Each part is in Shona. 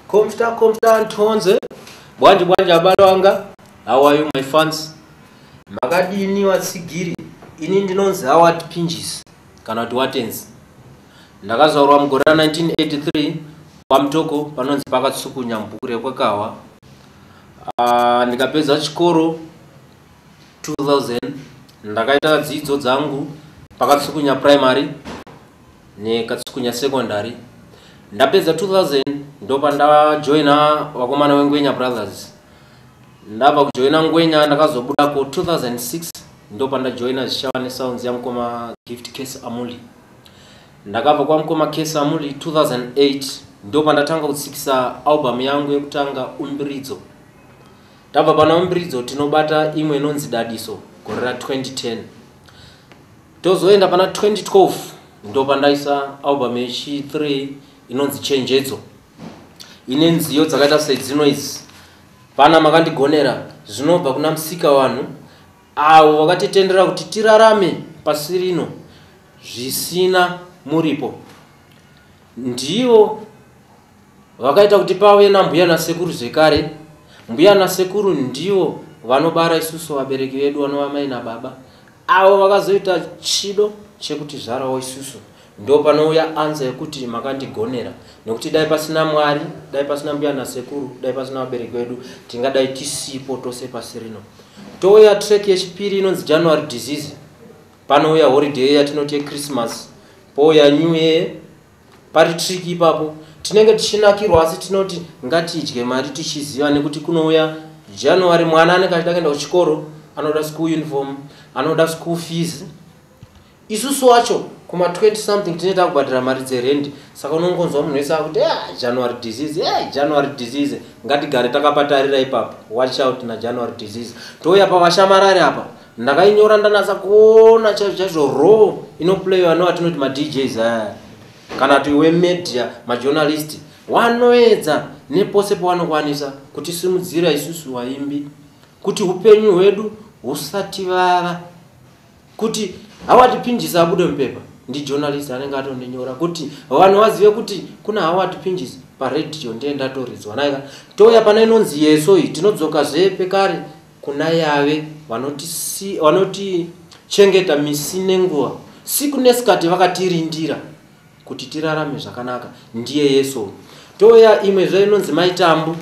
Komsta komsta ntonze bwanje bwanje abalo anga how are you my fans makadini watsigiri ini ndinonzi awat pinjis kana kuti watenzi ndakazvaurwa mugore ra 1983 kwamtoko panonzi pakatsukunya mubhuku rekwekahwa ah, ndikapedza chikoro 2000 ndakaita dzidzo dzangu pakatsukunya primary nekatsukunya secondary ndapedza 2000 ndopa ndajoina vakomana wengwenya brothers ndabva kujoina ngwenya ndakazobuda ku 2006 ndopa ndajoina zvichava nesounds yamukoma gift case amuli ndakabva kwamukoma case amuli 2008 ndopa ndatanga kutsikisa album yangu yekutanga umbiridzo tabva pana umbiridzo tinobata imwe inonzi dadiso gore ra 2010 tozoenda pana 2012 ndopandaisa album yechi 3 inonzi chenjedzo ine nziyo dzakaita sedzinoizi pana makandigonera zvinobva kuna musika vanhu avo vakatitendera kuti tirarame pasi rino zvisina muripo ndivo vakaita kuti pave nambuya nasekuru zvekare mbuya nasekuru ndivo vanobara isusu vabereki vedu vanova mai nababa avo vakazoita chido chekuti zvarawo isusu ndo panouya anza yekuti makandigonera nekuti dai pasina mwari dai pasina mbuya nasekuru dai pasina vabereki vedu tingadai tisipo tose pasi rino touya trek yechipiri inonzi january disease panouya holiday yatinoti yechristmas pouya new year pari trick ipapo tinenge tichinakirwa asi tinoti ngatidye mari tichiziva nekuti kunouya january mwana anenge achida kuenda kuchikoro anoda school uniform anoda school fees isusu wacho kuma 20 something tine takubhadhira mari dzerendi saka unongonzwa munhu wese akuti e ah, january disease e eh, january disease ngatigare takapatarira ipapo watch out najanuary disease touya pavashamarari apa ndakainyora ndanatsa kuona chaizvo chaizvo raw inoplayiwa nevatinoti madjs aya kana kuti wemedia majournalist wanoedza nepose pawanokwanisa kutisimudzira isusu vaimbi kuti upenyu hwedu husati vava kuti hawatipinjisa abude mupepa ndijournalist anenge atondinyora kuti vanhu vazive kuti kuna hawatipinjisi paredio ndiye ndatoridzwa naika touya pana inonzi yeso iyi tinodzoka zvepekare Kuna Yave vanoti si, vanoti chengeta misi nenguva siku nesikati vakatirindira kuti tirarame zvakanaka ndiye Yesu. Toya imwe zve inonzi maitambu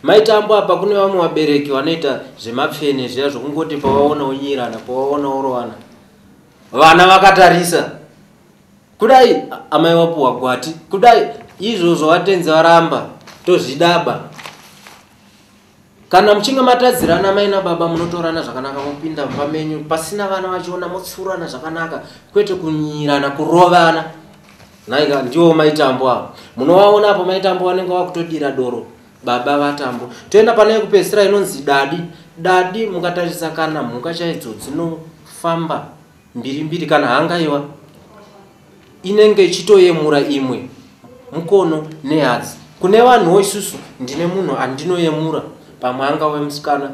maitambo apa kune vamwe vabereki vanoita zvemapfene zviya zvokungoti pavaona unyirana pavaona urovana vana vakatarisa kudai amai wapuwa gwati kudai izvozvo vatenzi varamba tozvidaba Kana muchinge matadzirana mai nababa munotorana zvakanaka mopinda mumba menyu pasina vana vachiona motsurana zvakanaka kwete kunyirana kurovana nhaika ndiwo maitambo avo munovaona apo maitambo vanenge vakutodira doro baba vatambo toenda pane yekupedzisira inonzi dadi dadi mukatarisa kana mhuka chaidzo dzinofamba mbiri mbiri kana hangaiwa inenge ichitoyemura imwe mukono nehadzi kune vanhuwo isusu ndine munhu andinoyemura pamwe anga wemusikana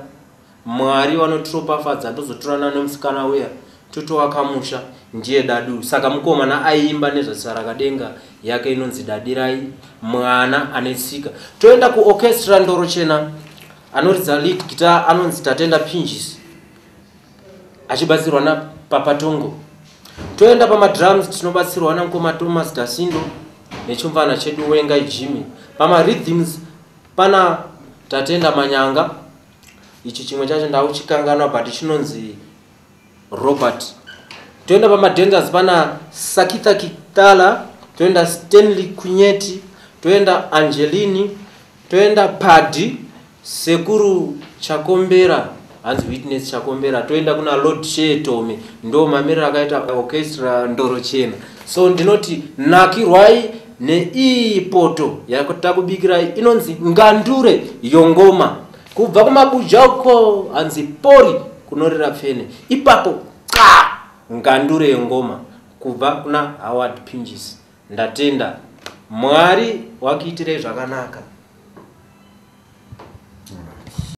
mwari vanotiropafadza ndozotorana nemusikana uya totoakamusha ndiye dadu saka mukomana aiimba nezvasarakadenga yake inonzi dadirai mwana ane tsika toenda kuorchestra ndorochena anoridza lead guitar anonzi tatenda pinjisi achibatsirwa napapa tongo toenda pamadrums tinobatsirwa namukoma thomas dasindo nechimvana chedu wenga jimmy pamaridhims pana tatenda manyanga ichi chimwe chacho ndauchikanganwa but chinonzi robert toenda pamadanzers pana sakita kitala toenda stanley kunyeti toenda angelini Toenda padi sekuru Chakombera hanzi witness Chakombera toenda kuna Lord Shee Tome ndo mamiriro akaita orchestra ndoro chena so ndinoti nakirwai neiyi poto yatakubikirai inonzi ngandure yongoma kubva kumabuja uko hanzi pori kunorira pfene ipapo xa ngandure yongoma kubva kuna Howard Pinjisi Ndatenda. Mwari wakuitirei zvakanaka.